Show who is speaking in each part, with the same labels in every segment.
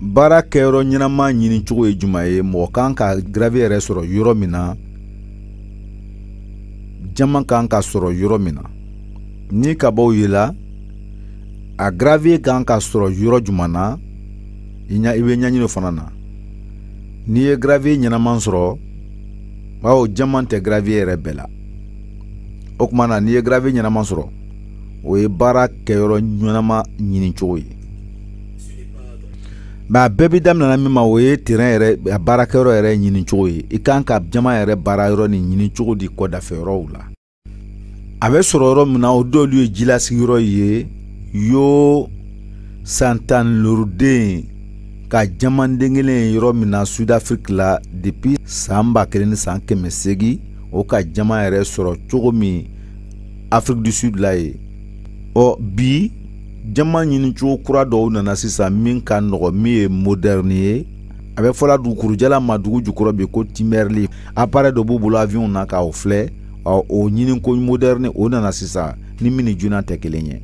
Speaker 1: baara kɛyɔrɔ ɲɛnama ɲini cogo ye juman ye mɔgɔ kan ka gravier yɛrɛ sɔrɔ yɔrɔ min na jaman kan ka sɔrɔ yɔrɔ min na ni kabaw yela a gravier kan ka sɔrɔ yɔrɔ jumɛn na i ɲa i bɛ ɲɛɲini o fana na n'i ye gravier ɲɛnama sɔrɔ bawo jaman tɛ gravier yɛrɛ bɛɛ la o kuma na n'i ye gravier ɲɛnama sɔrɔ o ye baara kɛyɔrɔ ɲɛnama ɲini cogo ye mɛ a bɛɛ bi daminɛna min ma o ye terrain yɛrɛ a baarakɛyɔrɔ yɛrɛ ɲini cogo ye i kan ka jaman yɛrɛ baara yɔrɔ ni ɲini cogo di kɔ dafɛ yɔrɔw la a bɛ sɔrɔ yɔrɔ min na o dɔlu ye jilasigiyɔrɔ ye yo san tan ni loru den ka jamanden kelen ye yɔrɔ min na sudafiriki la depuis san ba kelen ni san kɛmɛ seegin o ka jaman yɛrɛ sɔrɔ cogo min afrique du sud la ye ɔ bi jaman ɲinicogo kura dɔw nana sisan min ka nɔgɔ min ye modɛrni ye a bɛ fɔla dugukurujala ma dugu jukɔrɔ bi ko kimberlite aparɛ dɔ b'u bolo aviɔnw na k'aw filɛ ɔ o ɲininko modɛrni o nana sisan ni min ni junan tɛ kelen ye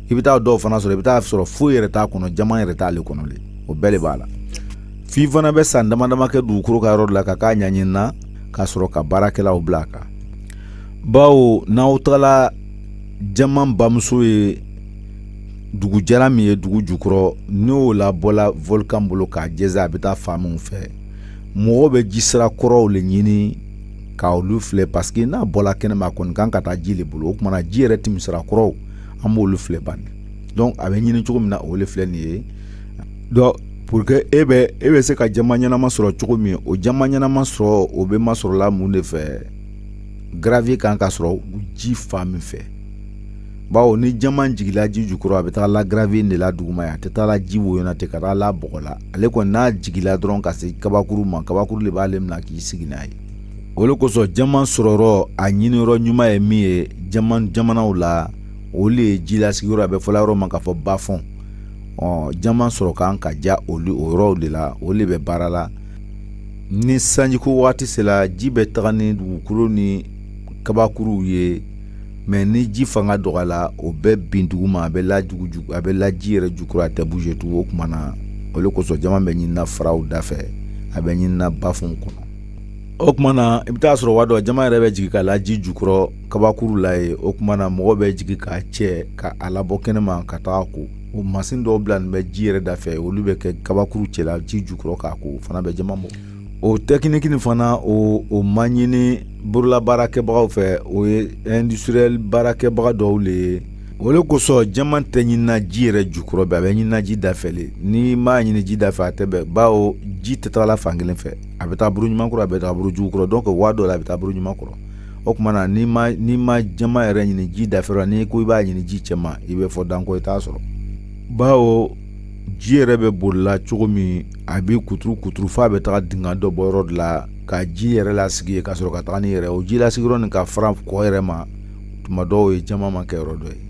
Speaker 1: i bɛ taa dɔw fana sɔrɔ i bɛ taa sɔrɔ foyi yɛrɛ t'a kɔnɔ jaman yɛrɛ t'ale kɔnɔ le o bɛɛ de b'a la f'i fana bɛ san dama dama kɛ dugukolo ka yɔrɔ la ka k'a ɲɛɲini na ka sɔrɔ ka baarakɛlaw bila a kan bawo n'aw tagala jaman bamuso ye dugu jara min ye dugu jukɔrɔ n'o labɔla volkan bolo k'a jɛnsɛn a bɛ taa fan minnu fɛ mɔgɔw bɛ ji sira kɔrɔw le ɲini ka olu filɛ parce que n'a bɔla kɛnɛma a kɔni kan ka taa ji le bolo o kuma na ji yɛrɛ tɛmɛ sira kɔrɔw an b'olu filɛ bani donc a bɛ ɲini cogo min na o le filɛ nin ye donc pour que e bɛ e bɛ se ka jaman ɲɛnama sɔrɔ cogo min o jaman ɲɛnama sɔrɔ o bɛ masɔrɔla mun de fɛ gravier kan ka sɔrɔ ji fan min fɛ bawo ni jaman jigila ji jukɔrɔ a bɛ taa la gravier de la duguma ye a tɛ taa la ji woyo na tɛ ka taa la bɔgɔ la ale kɔni n'a jigila dɔrɔn ka se kabakuru ma kabakuru de b'ale minɛ k'i sigi n'a ye o de kosɔn jaman sɔrɔyɔrɔ a ɲiniyɔrɔ ɲuman ye min ye jaman jamanaw la olu ye jilasigiyɔrɔ a bɛ fɔla yɔrɔ ma k'a fɔ bafɔn ɔ jaman sɔrɔ kan ka diya olu o yɔrɔw de la olu de bɛ baara la ni sanjiko waati sera ji bɛ taga ni dugukolo ni kabakuruw ye mɛ ni ji fanga dɔgɔyala o bɛ bin duguma a bɛ lajugujugu a bɛ la ji yɛrɛ jukɔrɔ a tɛ bouge tugun o kuma na o le kosɔn jaman bɛ ɲinina faraw da fɛ a bɛ ɲinina bafunw kɔnɔ o kuma na i bɛ taa sɔrɔ waati dɔ jaman yɛrɛ bɛ jigin ka la ji jukɔrɔ kabakuru la ye o kuma na mɔgɔ bɛ jigin k'a cɛ ka a labɔ kɛnɛma ka taga a ko o masin dɔw bilanin bɛ ji yɛrɛ da fɛ olu bɛ kɛ kabakuru cɛla ji jukɔrɔ k'a ko fana bɛ jama bɔ o tɛkiniki nin fana o o ma ɲini borola baarakɛbagaw fɛ o ye industriel baarakɛbaga dɔw le ye o le kosɔn jama tɛ ɲinina ji yɛrɛ jukɔrɔ bɛ a bɛ ɲinina ji dafɛ le n'i m'a ɲini ji dafɛ a tɛ bɛn bawo ji tɛ tagala fan kelen fɛ a bɛ taa buru ɲuman kɔrɔ a bɛ taa buru jugu kɔrɔ donc waa dɔ la a bɛ taa buru ɲuman kɔrɔ o tuma na n'i ma n'i ma jama yɛrɛ ɲini ji dafɛ le n'i ko i b'a ɲini ji cɛma i bɛ fɔ danko i t'a sɔrɔ bawo ji yɛrɛ bɛ borila cogo min a bɛ kuturu kuturu f'a bɛ taga dingɛ dɔ bɔ yɔrɔ dɔ la ka ji yɛrɛ lasigi yen ka sɔrɔ ka taga ni yɛrɛ o ji lasigiyɔrɔ nin ka fara kɔ yɛrɛ ma tuma dɔ o ye jama makɛyɔrɔ dɔ ye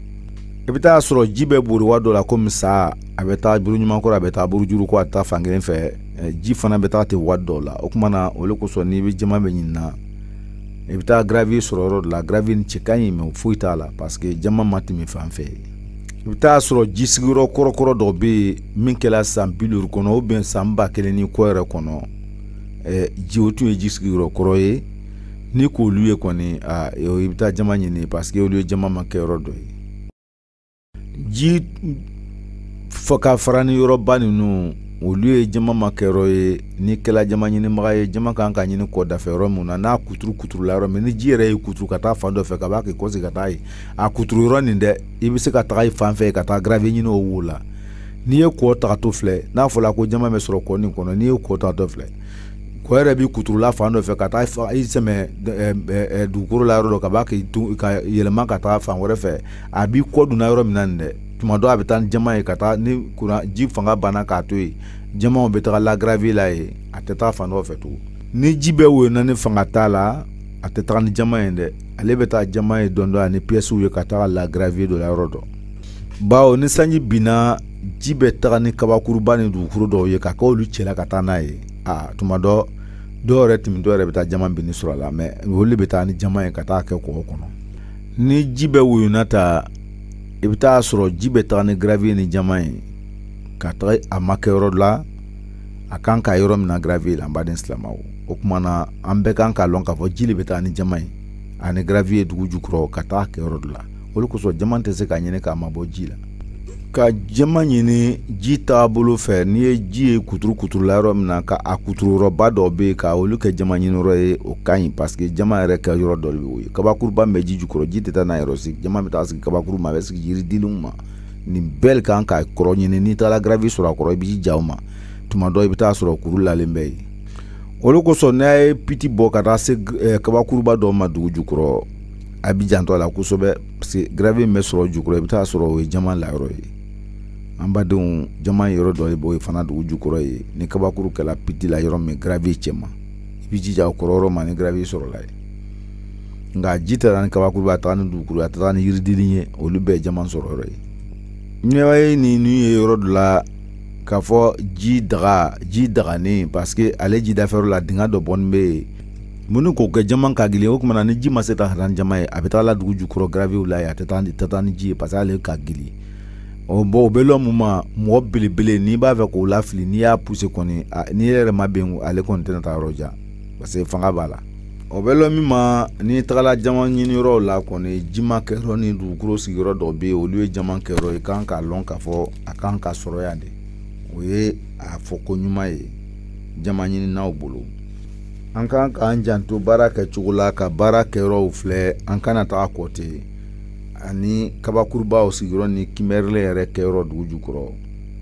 Speaker 1: i bɛ taa sɔrɔ ji bɛ bori waa dɔ la komi sa a bɛ taa buru ɲuman kɔrɔ a bɛ taa buru jugu kɔrɔ a tɛ taa fan kelen fɛ ji fana bɛ taa ten waati dɔw la o tuma na o le kosɔn n'i bɛ jama bɛ ɲinina i bɛ taa gravier sɔrɔ yɔrɔ dɔ la gravier nin cɛ ka ɲi mɛ foyi t'a la parce que jama ma tɛmɛ fan fɛ i bɛ taa sɔrɔ ji sigiyɔrɔ kɔrɔkɔrɔ dɔ bɛ yen min kɛra san bi duuru kɔnɔ ou bien san ba kelen ni kɔ yɛrɛ kɔnɔ ɛɛ ji o tun ye ji sigiyɔrɔ kɔrɔ ye n'i k'olu ye kɔni aa i bɛ taa jama ɲini parce que olu ye jama makɛyɔrɔ dɔ ye ji fɔ ka fara ni yɔrɔba ninnu olu ye jama makɛyɔrɔ ye n'i kɛla jama ɲinibaga ye jama kan ka ɲini kɔ dafɛ yɔrɔ min na n'a kuturu kuturula yɔrɔ min ni ji yɛrɛ ye kuturu ka taa fan dɔ fɛ ka ban k'i kɔsegi ka taa ye a kuturu yɔrɔ nin dɛ i bɛ se ka taga o fan fɛ ka taa gravier ɲini o wo la n'i ye kɔ tagatɔ filɛ n'a fɔla ko jama bɛ sɔrɔ kɔ nin kɔnɔ n'i ye kɔ tagatɔ filɛ kɔ yɛrɛ b'i kuturula fan dɔ fɛ ka taa i sɛmɛ dugukolo la yɔrɔ dɔ ka ban k'i ka yɛlɛma ka taa fan wɛrɛ fɛ a b'i kɔ donna yɔrɔ min na nin dɛ tuma dɔ a bɛ taa ni jama ye ka taa ni kuran ji fanga banna k'a to yen jamaw bɛ taga la gravier la yen a tɛ taa fan dɔ fɛ tugun ni ji bɛ woyona ni fanga t'a la a tɛ taga ni jama ye dɛ ale bɛ taa jama ye dɔɔnin dɔɔnin ani piyɛsiw ye ka taga la gravier dɔ la yɔrɔ dɔ bawo ni sanji binna ji bɛ taga ni kabakuruba ni dugukolo dɔw ye ka kɛ olu cɛla ka taa n'a ye a tuma dɔ dɔw yɛrɛ tɛmɛtɔ yɛrɛ bɛ taa jama binnin sɔrɔ a la mɛ olu bɛ taa ni jama ye ka taa kɛ kɔ dɔ kɔnɔ ni ji bɛ woyona ta i bɛ taa sɔrɔ ji bɛ taga ni gravier ni jama ye ka taga a makɛ yɔrɔ dɔ la a kan ka yɔrɔ min na gravier la an baden silamɛw o tuma na an bɛɛ kan k'a lɔn k'a fɔ ji le bɛ taga ni jama ye ani gravier dugu jukɔrɔ ka taga kɛ yɔrɔ dɔ la o le kosɔn jama tɛ se ka ɲini k'a mabɔ ji la ka jama ɲini ji taabolo fɛ n'i ye ji ye kuturu kuturula yɔrɔ min na ka a kuturuyɔrɔba dɔ bɛ yen ka olu kɛ jama ɲini yɔrɔ ye o ka ɲi paseke jama yɛrɛ kɛ yɔrɔ dɔ de bɛ o ye kabakuruba min bɛ ji jukɔrɔ ji tɛ taa n'a yɔrɔ sigi jama bɛ taa sigi kabakuru ma a bɛ sigi yiridenw ma nin bɛɛ kan ka kɔrɔ ɲini n'i taara gravier sɔrɔ a kɔrɔ i bɛ ji ja o ma tuma dɔ i bɛ taa sɔrɔ kuru lalen bɛ yen o le kosɔn n'a ye piti bɔ ka taa se eh, kabakuruba dɔ ma dugu jukɔrɔ a bɛ janto a la kosɛbɛ parce que gravier in bɛ sɔrɔ jukɔrɔ i bɛ taa sɔrɔ o ye jaman layɔrɔ ye an badenw jaman yɔrɔ dɔ de b'o ye fana dugu jukɔrɔ ye ni kabakuru kɛla piti la yɔrɔ min gravier cɛma i b'i jija o kɔrɔ yɔrɔ ma ni gravier sɔrɔla ye nka ji taara ni kabakuru bɛ a taara ni dugukolo a taara ni yiridili ye olu bɛɛ ye jaman sɔrɔ yɔrɔ ye ɲɛwaye ni n'u ye yɔrɔ dɔ la k'a fɔ ji daga ji daganen parce que ale jidafɛyɔrɔ la dingɛ dɔ bɔni bɛ yen minnu k'o kɛ jaman ka gili o tuma na ni ji ma se ka taa ni jaman ye a bɛ taa la dugu jukɔrɔ gravier la ye a tɛ taa ni tata ni ji ye parce ale ka gili ɔ bɔn o bɛ lɔ mun ma mɔgɔ belebele n'i b'a fɛ k'o lafili n'i y'a puse kɔni n'i yɛrɛ ma bɛn ale kɔni tɛna taa yɔrɔ jan parce que fanga b'a la o bɛ lɔ min ma n'i tagala jaman ɲini yɔrɔ la kɔni ji makɛyɔrɔ ni dugukolo sigiyɔrɔ dɔ bɛ yen olu ye jaman kɛyɔrɔ ye kan k'a lɔn k'a fɔ a kan ka sɔrɔ yan de o ye a fɔ ko ɲuman ye jaman ɲininaw bolo an kan k'an janto baara kɛcogo la ka baara kɛyɔrɔw filɛ an kana taga kɔte ani kabakurubaw sigiyɔrɔ ni kimberlite yɛrɛ kɛyɔrɔ dugu jukɔrɔ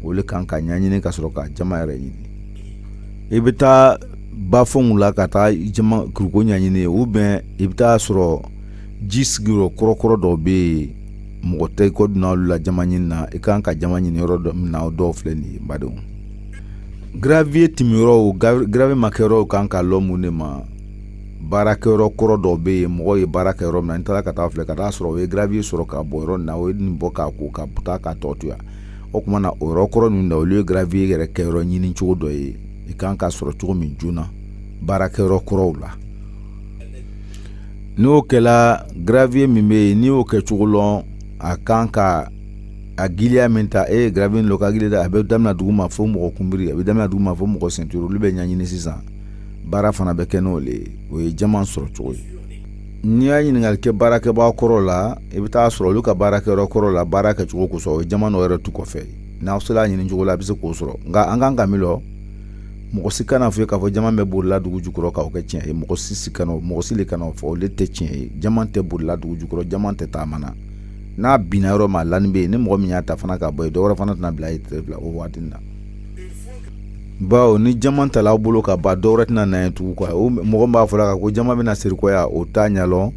Speaker 1: o le kan ka ɲɛɲini ka sɔrɔ ka jaman yɛrɛ ɲini i bɛ taa bafɛnw la ka taa jaman kuruko ɲɛɲini u bɛn i bɛ taa sɔrɔ ji sigiyɔrɔ kɔrɔkɔrɔ dɔw bɛ yen mɔgɔ tɛ i kɔ donna olu la jaman ɲini na i kan ka jaman ɲini yɔrɔ dɔ min na o dɔw filɛ nin ye badenw gravier timiyɔrɔw gravier makɛyɔrɔw kan ka lɔ mun de ma baarakɛyɔrɔ kɔrɔ dɔ bɛ yen mɔgɔ ye baara kɛ yɔrɔ min na n'i taara ka taa filɛ ka taa sɔrɔ o ye gravier sɔrɔ ka bɔ yɔrɔ na o ye nin bɔ k'a ko ka taa ka tɔ to yan o tuma na o yɔrɔ kɔrɔ ninnu na olu ye gravier yɛrɛ kɛyɔrɔ ɲini cogo dɔ ye i kan ka sɔrɔ cogo min joona baarakɛyɔrɔ kɔrɔw la n'o kɛla gravier min bɛ yen n'i y'o kɛ cogo lɔn a kan ka a giliya min ta e ye gravier lɔ ka gili da a bɛ daminɛ dugu ma fo mɔgɔ kunbiri a bɛ daminɛ dugu ma fo mɔgɔ senturu olu bɛ ɲɛɲini sisan baara fana bɛ kɛ n'o le ye o ye jaman sɔrɔ cogo ye n'i y'a ɲininkali kɛ baarakɛbaa kɔrɔ la i bɛ taa sɔrɔ olu ka baarakɛyɔrɔ kɔrɔ la baara kɛcogo kosɔn o ye jaman dɔ yɛrɛ to kɔfɛ n'aw sera a ɲini cogo la a bɛ se k'o sɔrɔ nka an kan ka min lɔn mɔgɔ si kana fɔ ye k'a fɔ jaman bɛ bolila dugu jukɔrɔ k'a kɛ tiɲɛ ye mɔgɔ si si kana mɔgɔ si le kana o fɔ olu tɛ tiɲɛ ye jaman tɛ bolila dugu jukɔrɔ jaman tɛ taama na n'a binna yɔrɔ min a lani bɛ yen ni mɔgɔ min y'a ta fana ka bɔ yen dɔwɛrɛ fana tɛna bila ye tile fila o waati na bawo ni jaman tala aw bolo kaban dɔwɛrɛ tɛna na ye tugu quoi o mɔgɔ b'a fɔla ka ko jaman bɛna sirikɔya o t'a ɲɛlɔn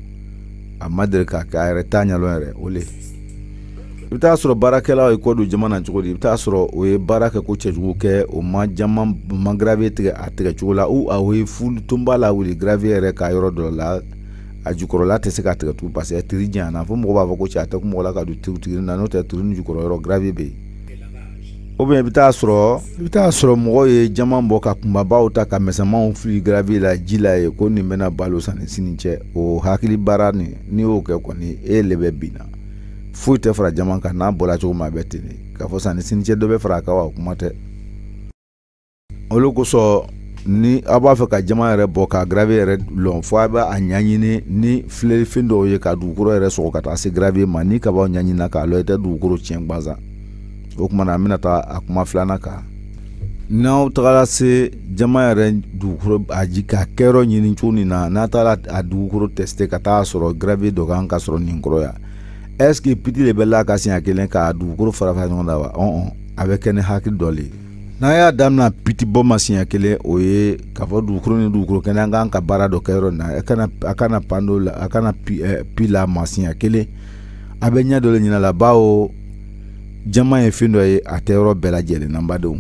Speaker 1: a ma deli ka kɛ a yɛrɛ t'a ɲɛlɔn yɛrɛ o le i bɛ taa sɔrɔ baarakɛlaw ye kɔ don jaman na cogo di i bɛ taa sɔrɔ o ye baara kɛ ko cɛjugu kɛ o ma jaman ma gravier tigɛ a tigɛ cogo la ou a ye fulu tonba lawuli gravier yɛrɛ ka yɔrɔ dɔ la a jukɔrɔla tɛ se ka tigɛ tugun parce que tiri janyana fo mɔgɔ b'a fɔ ko cɛ a tɛ kun mɔgɔ la ka don turu tigiri na n'o tɛ turu ni jukɔrɔ yɔrɔ gravi bɛ yen o bɛn i bɛ taa sɔrɔ i bɛ taa sɔrɔ mɔgɔw ye jama bɔ ka kunbabaw ta ka misɛnmanw fili gravi la ji la ye ko nin bɛna balo sani sini cɛ o hakili baara nin n'i y'o kɛ kɔni e le bɛ bin na foyi tɛ fara jama kan n'a bɔra cogo min a bɛ ten de k'a fɔ sani sini cɛ dɔ bɛ fara a kan wa o kuma tɛ o le kosɔn ni aw b'a fɛ ka jama yɛrɛ bɔ ka gravi yɛrɛ lɔn fo a bɛ a ɲɛɲini ni filɛlifɛn dɔw ye ka dugukolo yɛrɛ sɔgɔ ka taa se gravi ma ni kabaw ɲɛɲinina k'a lɔn i tɛ dugukolo tiɲɛ gbansan o tuma na an bɛna taa a kuma filanan kan n'aw tagara se jama yɛrɛ dugukolo a ji ka kɛyɔrɔ ɲini cogo nin na n'a taara a dugukolo tɛsite ka taa sɔrɔ gravi dɔ kan ka sɔrɔ nin kɔrɔ yan est-ce que piti le bɛ la ka siɲɛ kelen k'a dugukolo fara fara ɲɔgɔn na wa ɔn a bɛ kɛ ni hakili dɔ le ye n'an y'a damina piti bɔ ma siɲɛ kelen o ye k'a fɔ dugukolo ni dugukolo kɛnɛ an k'an ka baara dɔ kɛ yɔrɔ na a kana a kana pan dɔ la a kana pi ɛ pi la ma siɲɛ kelen a bɛ ɲɛ dɔ le ɲinɛ la bawo jama ye fɛn dɔ ye a tɛ yɔrɔ bɛɛ lajɛlen na n badenw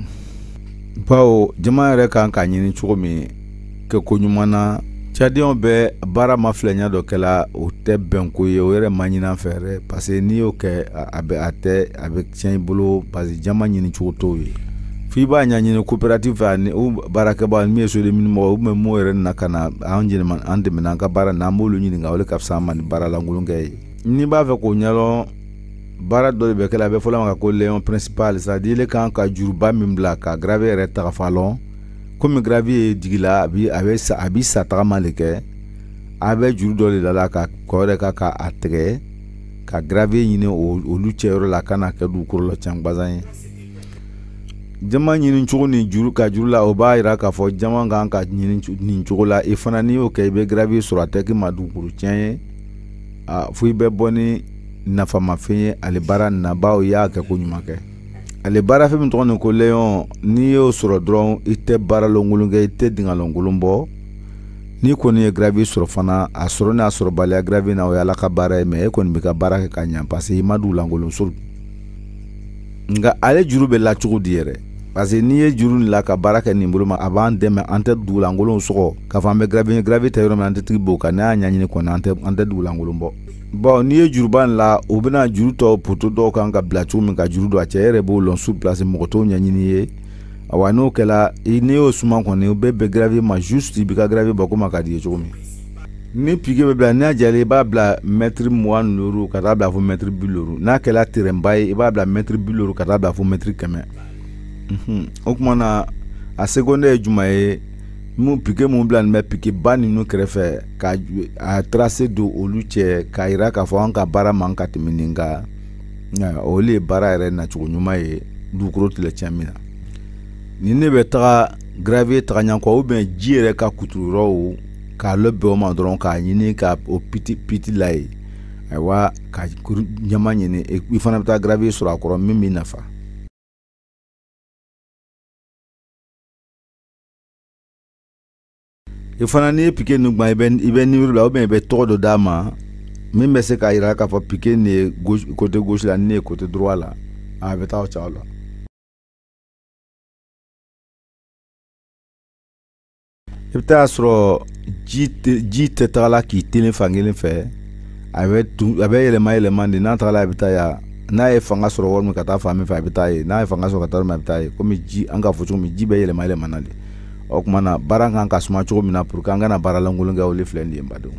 Speaker 1: bawo jama yɛrɛ kan ka ɲini cogo min kɛ koɲuman na c'est-à-dire u bɛ baara ma filɛya dɔ kɛla o tɛ bɛnko ye o yɛrɛ man ɲi an fɛ yɛrɛ parce que n'i y'o kɛ a bɛ a tɛ a bɛ tiɲɛ i bolo parce que jama ɲini cogo t'o ye fo i b'a ɲɛɲini kopɛrati fɛ ani baarakɛba min ye sodemi mɔgɔ u bɛ maaw yɛrɛ na ka na an an dɛmɛ an ka baara na an b'olu ɲininka o ka fisa an ma ni baaralankolon kɛ ye n'i b'a fɛ k'o ɲɛdɔn baara dɔ de bɛ kɛ a bɛ fɔ o le ma ko layon principal c'est-à-dire i kan ka juruba min bila ka gravi yɛrɛ tagafan lɔn komi gravi ye jigi la a bi a bɛ sa a bi sa tagama le kɛ a bɛ juru dɔ le la la ka kɔ yɛrɛ ka ka a tigɛ ka gravi ɲini olu cɛ yɔrɔ la kana kɛ dugukolo lacɛn gbansan ye jama ɲini cogo ni juru ka juru la o b'a yira k'a fɔ jama kan ka ɲini nin cogo la i fana n'i y'o kɛ i bɛ gravi sɔrɔ a tɛ k'i ma dugukolo tiɲɛ ye a fo i bɛ bɔ ni nafamafɛn ye ale baara nabaw y'a kɛ ko ɲuman kɛ ale baarafɛn min tɔgɔ nin ko layon n'i y'o sɔrɔ dɔrɔn i tɛ baaralankolon kɛ i tɛ dingalankolon bɔ n'i kɔni ye gravi sɔrɔ fana a sɔrɔ n'a sɔrɔbaliya gravi na o ye ala ka baara ye mais e kɔni bɛ ka baara kɛ ka ɲa parce que i ma dugulankolon sɔgɔ nka ale juru bɛ la cogo di yɛrɛ parce que n'i ye juru nin la ka baara kɛ nin bolo ma a b'an dɛmɛ an tɛ dugulankolon sɔgɔ k'a fɔ an bɛ gravi gravi tɛ yɔrɔ min an tɛ tigi b'o kan n'a y'a ɲɛɲini kɔni an tɛ an tɛ dugulankolon bɔ bɔn n'i ye juruba in la u bɛna juru tɔ poto dɔw kan ka bila cogo min ka juru don a cɛ yɛrɛ b'o lɔn su plasi mɔgɔ t'o ɲɛɲini ye awa n'o kɛla n'i y'o suma kɔni u bɛ bɛn gravi ma juste i b'i ka gravi bɔ komi a ka di i ye cogo min ni pike bɛ bila n'a jɛlen i b'a bila mɛtiri mugan ni duuru ka taa bila fo mɛtiri bi duuru n'a kɛla terɛnba ye i b'a bila mɛtiri bi duuru ka taa bila fo mɛtiri kɛmɛ o tuma na a seconde ye jumɛn ye mun pike min bilanin bɛ pikeba ninnu kɛrɛfɛ ka a trase don olu cɛ k'a yira k'a fɔ an ka baara man ka tɛmɛ nin kan o de ye baara yɛrɛ nacogo ɲuman ye dugukolo tilɛ tiɲɛ min na ni ne bɛ taga gravier taga ɲan kɔ ubiyɛn ji yɛrɛ ka kuturu yɔrɔw k'a labɛn o ma dɔrɔn k'a ɲini ka o piti piti la ye ayiwa ka ɲɛma ɲini i fana bɛ taa gravier sɔrɔ a kɔrɔ min b'i nafa i fana n'i ye pike nin gwan i bɛ i bɛ nimɔrɔ la ubiyɛn i bɛ tɔgɔ dɔ d'a ma min bɛ se k'a yira k'a fɔ pike nin ye kote gosi la nin ye kote droit la a bɛ taa o cogo la i bɛ taa sɔrɔ ji tɛ ji tɛ tagala k'i telen fan kelen fɛ a bɛ tun a bɛ yɛlɛma yɛlɛma de n'a tagala a bɛ taa yan n'a ye fanga sɔrɔ yɔrɔ min ka taa fan min fɛ a bɛ taa yen n'a ye fanga sɔrɔ ka taa yɔrɔ min a bɛ taa yen komi ji an k'a fɔ cogo min ji bɛ yɛlɛma yɛlɛmana de o tuma na baara kan ka suma cogo min na pour que an kana baara lankolon kɛ o le filɛ nin ye badenw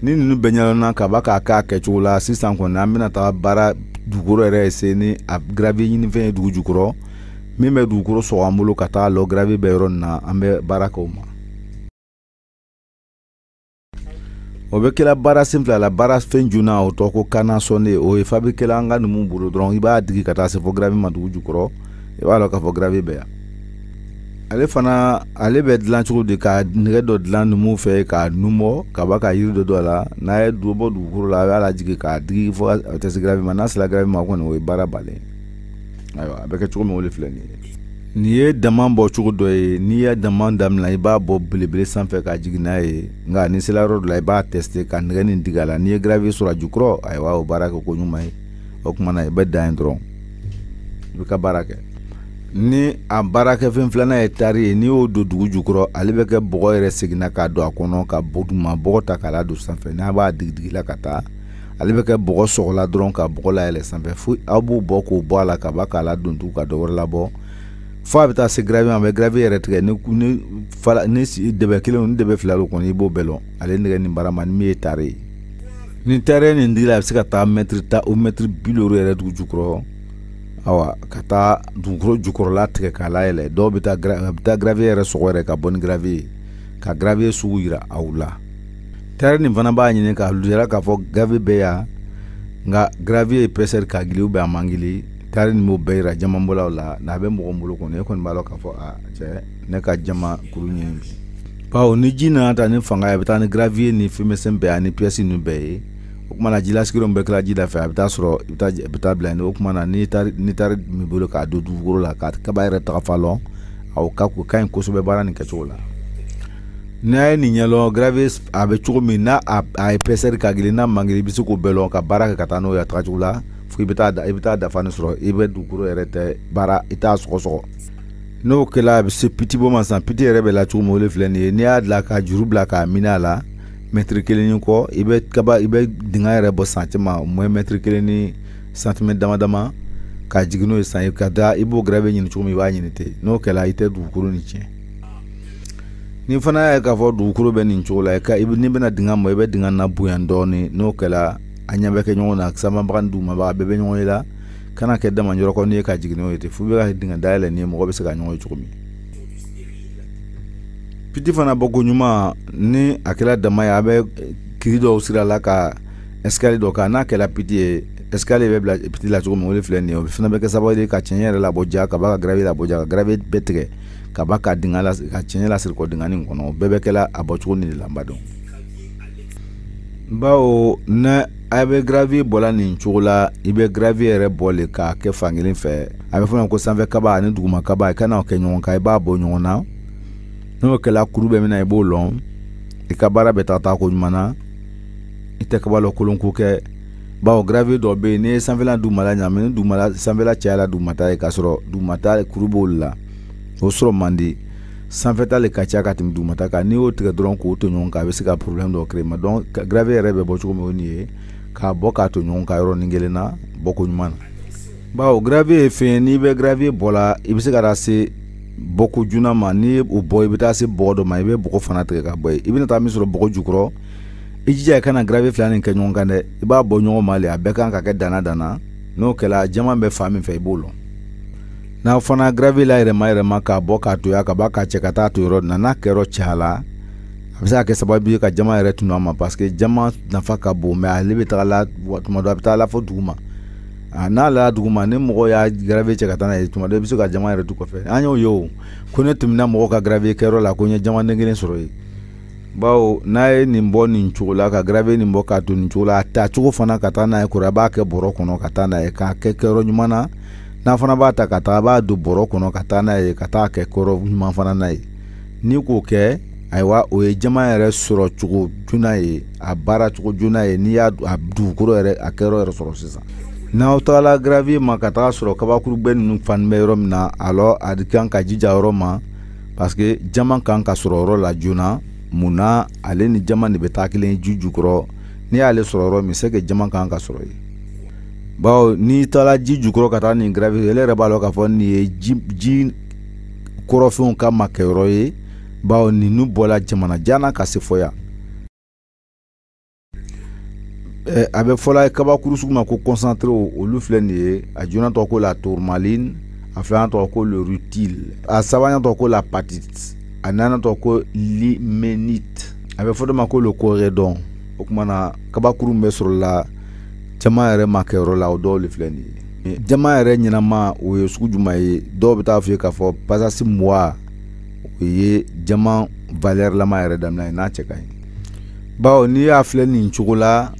Speaker 1: ni ninnu bɛɛ ɲɛdɔnna ka ban k'a kɛ a kɛcogo la sisan kɔni an bɛna taga baara dugukolo yɛrɛ sen ni a gravier ɲinifɛn ye dugu jukɔrɔ min bɛ dugukolo sɔgɔ an bolo ka taga a lɔn gravier bɛ yɔrɔ min na an bɛ baara kɛ o ma o bɛ kɛla baara sen fila la baara fɛn joona o tɔgɔ ko canne à sonder o ye fabirike la an ka numu bolo dɔrɔn i b'a digi ka taa se fo gravier ma dugu jukɔrɔ i b'a dɔn k'a fɔ gravier bɛ yan ale fana ale bɛ dilan cogo di ka nɛgɛ dɔ dilan numuw fɛ k'a nun bɔ ka ban ka yiri dɔ don a la n'a ye dɔ bɔ dugukolo la a b'a lajigin k'a digi fo a taa se gravier ma n'a sera gravier ma kɔni o ye baara bannen ayiwa a bɛ kɛ cogo min o de filɛ nin ye nin ye dama bɔ cogo dɔ ye n'i ye dama daminɛ i b'a bɔ belebele sanfɛ ka jigin n'a ye nka n'i sela yɔrɔ dɔ la i b'a teste ka nɛgɛ nin digi a la n'i ye gravier sɔrɔ a jukɔrɔ ayiwa o baara kɛko ɲuman ye o tuma na i bɛ dan yen dɔrɔn i b'i ka baara kɛ ni a baarakɛfɛn filanan ye tari ye n'i y'o don dugu jukɔrɔ ale bɛ kɛ bɔgɔ yɛrɛ senna k'a don a kɔnɔ ka bɔ duguma bɔgɔ ta k'a ladon sanfɛ n'a b'a digidigila ka taa ale bɛ kɛ bɔgɔ sɔgɔla dɔrɔn ka bɔgɔ layɛlɛ sanfɛ fo aw b'u bɔ k'u bɔ a la ka ban k'a ladon tugu ka dɔ wɛrɛ labɔ fo a bɛ taa se gravier ma a bɛ gravier yɛrɛ tigɛ ni ni fala ni dɛbɛ kelen ni dɛbɛ fila don kɔni i b'o bɛɛ lɔn ale nɛgɛ nin barama ni min ye tare ye nin tare nin dira a bɛ se ka taa mɛtiri tan o mɛtiri bi duuru yɛrɛ dugu jukɔrɔ awa ka taa dugukolo jukɔrɔla tigɛ k'a layɛlɛ dɔw bɛ taa a bɛ taa gravier yɛrɛ sɔgɔ yɛrɛ ka bɔ ni gravier ye ka gravier sugu yira aw la Tari nin fana b'a ɲini k'a lujara k'a fɔ gravier bɛ yan nka gravier épaisseur ka gili ba a man gili tari nin b'o bɛɛ yira jamanbɔlaw la n'a bɛ mɔgɔ bolo kɔnɔ e kɔni b'a dɔn k'a fɔ a cɛ ne ka jaman kuru ɲini bi bawo ni ji nana ta ni fanga ye a bɛ taa ni gravier ni fɛn misɛn bɛɛ ani pièce ninnu bɛɛ ye o kumana ji lasigiyɔrɔ min bɛ kɛla ji da fɛ a bɛ taa sɔrɔ i bɛ taa i bɛ taa bila yen o kumana ni tari ni tari min bolo k'a don dugukolo la k'a kaba yɛrɛ tagafan lɔn aw ka o ka ɲi kosɛbɛ baara nin kɛcogo la n'a ye nin ɲɛlɔn gravier a bɛ cogo min n'a épaisseur ka gili n'a man gili i bɛ se k'o bɛɛ lɔn ka baara kɛ ka taa n'o ye a tagacogo la fo i bɛ taa i bɛ taa dafa ni sɔrɔ i bɛ dugukolo yɛrɛ tɛ baara i t'a sɔgɔsɔgɔ n'o kɛla a bɛ se piti bɔ ma sisan piti yɛrɛ bɛ la cogo min o de filɛ nin ye n'i y'a dilan ka juru bila k'a minɛ a la mɛtiri kelen ni kɔ i bɛ kaba i bɛ dingɛ yɛrɛ bɔ san caman mɔ mɛtiri kelen ni santimɛ dama dama ka jigin n'o ye san ka da i b'o gravier ɲini cogo min i b'a ɲini ten n'o kɛla i tɛ dugukolo ni tiɲɛ ni fana y'a ye k'a fɔ dugukolo bɛ nin cogo la i ka i n'i bɛna dingɛ bɔ i bɛ dingɛ labonya dɔɔnin n'o kɛra a ɲɛ bɛ kɛ ɲɔgɔn na sanbabaga ni dugumaba bɛɛ bɛ ɲɔgɔn ye a kana kɛ daman yɔrɔ kɔni ye ka jigin n'o ye ten f'u bɛ ka dingɛ dayɛlɛ ni mɔgɔ bɛ se ka ɲɔgɔn ye cogo min piti fana bɔ ko ɲuman ni a kɛra daman ye a bɛ yiri dɔw sirila ka ɛsikali dɔ kan n'a kɛra piti ye ɛsikali bɛ bila piti la cogo min o de filɛ nin ye o fana bɛ kɛ sababu ye ka tiɲɛ yɛrɛ labɔ ja ka ban ka gravier labɔ ja ka gravier bɛɛ tigɛ ka ban ka dingɛ la ka tiɲɛ lasegin kɔ dingɛ nin kɔnɔ bɛɛ bɛ kɛla a bɔcogo ni de la n b'a dɔn bawo n'a bɛ gravier bɔla nin cogo la i bɛ gravier yɛrɛ bɔ le k'a kɛ fankelen fɛ a bɛ fɔ ma ko sanfɛ kaba ani duguma kaba i kana o kɛ ɲɔgɔn kan i b'a bɔ ɲɔgɔn na n'o kɛla kuru bɛ min na i b'o lɔn i ka baara bɛ taa taako ɲuman na i tɛ kaba lakolon ko kɛ bawo gravier dɔ bɛ yen n'i ye sanfɛla dugumala ɲagami ni dugumala sanfɛla cayala dugumata ye k'a sɔrɔ dugumata kuru b'olu la o sɔrɔ man di sanfɛta le ka ca ka tɛmɛ dugumata kan n'i y'o tigɛ dɔrɔn k'o to ɲɔgɔn kan a bɛ se ka problème dɔ créer ma donc gravier yɛrɛ bɛ bɔ cogo min o nin ye k'a bɔ k'a to ɲɔgɔn kan yɔrɔnin kelen na bɔko ɲuman na bawo gravier ye fɛn ye n'i bɛ gravier bɔla i bɛ se ka taa se bɔgɔ joona ma n'i ye o bɔ i bɛ taa se bɔgɔ dɔ ma i bɛ bɔgɔ fana tigɛ ka bɔ yen i bɛna taa min sɔrɔ bɔgɔ jukɔrɔ i jija i kana gravier fila nin kɛ ɲɔgɔn kan dɛ i b'a bɔ ɲɔgɔn ma le a bɛɛ kan ka kɛ danna danna n'o kɛla jaman bɛ fan min fɛ i b'o lɔn n'a fana gravier layɛlɛmayɛlɛma k'a bɔ k'a to yan ka ban k'a cɛ ka taa to yɔrɔ na n'a kɛyɔrɔ caya la a bɛ se ka kɛ sababu ye ka jaman yɛrɛ tunun a ma parce que jaman nafa ka bon mais ale bɛ taga la tuma dɔ a bɛ taa la fo duguma n'a la duguma ni mɔgɔ y'a gravier cɛ ka taa n'a ye tuma dɔ i bɛ se ka jaman yɛrɛ to kɔfɛ an y'o ye o ko ne tɛmɛna mɔgɔ ka gravier kɛyɔrɔ la ko n ye jamanden kelen sɔrɔ yen bawo n'a ye nin bɔ nin cogo la ka gravier nin bɔ k'a to nin cogo la a ta cogo fana ka taa n'a ye kɔrɔ a b'a kɛ bɔrɔ kɔnɔ ka taa n'a ye k'a kɛ kɛyɔrɔ ɲuman na n'a fana b'a ta ka taa a b'a don bɔrɔ kɔnɔ ka taa n'a ye ka t'a kɛ kɛyɔrɔ ɲuman fana na ye n'i k'o kɛ ayiwa o ye jama yɛrɛ sɔrɔ cogo joona ye a baara cogo joona ye n'i y'a a dugukolo yɛrɛ a kɛyɔrɔ yɛrɛ sɔrɔ sisan n'aw tagala gravier ma ka taga sɔrɔ kabakurugbɛ ninnu fana bɛ yɔrɔ min na alors a kan ka jija yɔrɔ ma parce que jama kan ka sɔrɔ yɔrɔ la joona mun na ale ni jama de bɛ taa kelen ji jukɔrɔ n'i y'ale sɔrɔ yɔrɔ min c'est que jama kan ka sɔrɔ yen bawo n'i taala ji jukɔrɔ ka taa nin gravier e le yɛrɛ b'a lɔn k'a fɔ nin ye ji jukɔrɔfɛnw ka makɛyɔrɔ ye bawo ninnu bɔla jamana jan na ka se fɔ yan Eh, a bɛ fɔla kabakuru sugu ma ko concentré olu filɛ nin ye a joona tɔgɔ ko la tourmaline a filanan tɔgɔ ko le rutile a sabanan tɔgɔ ko l'apatite a naaninan tɔgɔ ko l'ilménite a bɛ fɔ dɔ ma ko le corindon o tuma na kabakuru bɛ sɔrɔla jama yɛrɛ makɛyɔrɔ la o dɔw le filɛ nin ye jama yɛrɛ ɲɛnama o ye sugu juma ye dɔw bɛ t'a fɔ ye k'a fɔ pasasi muwa o ye jama valɛrilama yɛrɛ daminɛ ye n'a cɛ ka ɲi bawo n'i y'a filɛ nin cogo la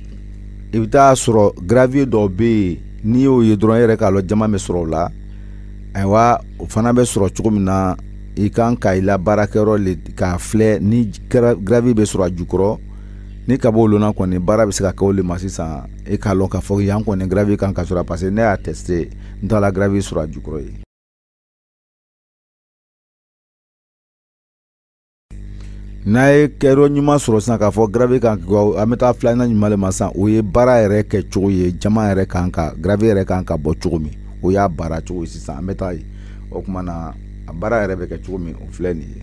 Speaker 1: i bɛ t'a sɔrɔ gravier dɔw bɛ yen n'i y'o ye dɔrɔn e yɛrɛ k'a lɔn jama bɛ sɔrɔ o la ayiwa o fana bɛ sɔrɔ cogo min na i kan ka i la baarakɛyɔrɔ le k'a filɛ ni gravier bɛ sɔrɔ a jukɔrɔ n'i ka b'o lɔn na kɔni baara bɛ se ka kɛ o le ma sisan e k'a lɔn k'a fɔ yan kɔni gravier kan ka sɔrɔ parce que ne y'a teste n taala gravier sɔrɔ a jukɔrɔ yen n'a ye kɛyɔrɔ ɲuman sɔrɔ sisan k'a fɔ gravier kan an bɛ taa filanan ɲuman le ma sisan o ye baara yɛrɛ kɛ cogo ye jama yɛrɛ kan ka gravier yɛrɛ kan ka bɔ cogo min o y'a baara cogo ye sisan an bɛ taa yen o tuma na a baara yɛrɛ bɛ kɛ cogo min o filɛ nin ye